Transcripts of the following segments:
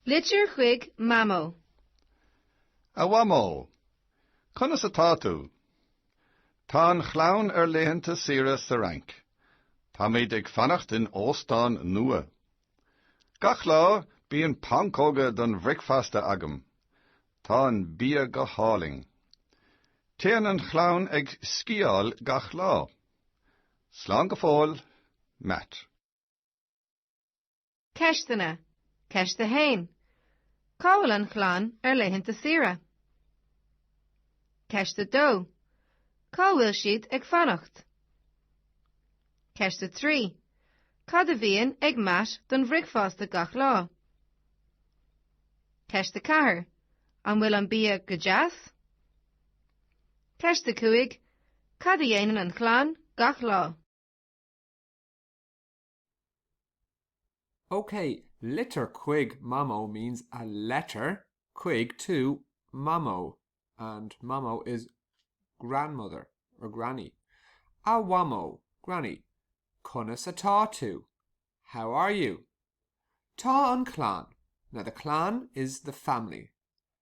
Litir chuig Mamó. A Mhamó, Conas atá tú? Tá an chlann ar laethanta saoire sa Fhrainc. Táimid ag fanacht in óstán nua. Gach lá, bíonn pancóga don bhricfeasta agam. Tá an bia go hálainn. Téann an chlann ag sciáil gach lá. Slán go fóill, Matt. Ceisteanna, Ceist 1. Cá bhfuil an chlann ar laethanta saoire? Ceist 2. Cá bhfuil siad ag fanacht? Ceist 3. Cad a bhíonn ag Matt don bhricfeasta gach lá? Ceist 4. An bhfuil an bia go deas? Ceist 5. Cad a dhéanann an chlann gach lá? OK, litir chuig Mamó means a letter chuig to Mamó and Mamó is grandmother or granny. A Mhamó, granny, conas atá tú? How are you? Tá an chlann, now the clann is the family.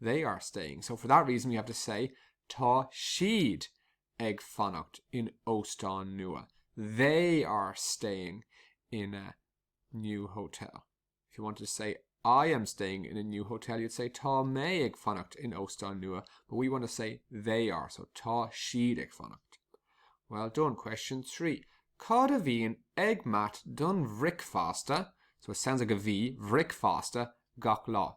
they are staying. So for that reason we have to say Tá siad ag fanacht in óstán nua. They are staying in a new hotel. If you wanted to say I am staying in a new hotel, you'd say Tá mé ag fanacht in óstán nua. But we want to say they are, so Tá siad ag fanacht. Well done. Question three. Cad a bhíonn ag Matt don bhricfeasta? So it sounds like a bhí, bhricfeasta, gach lá.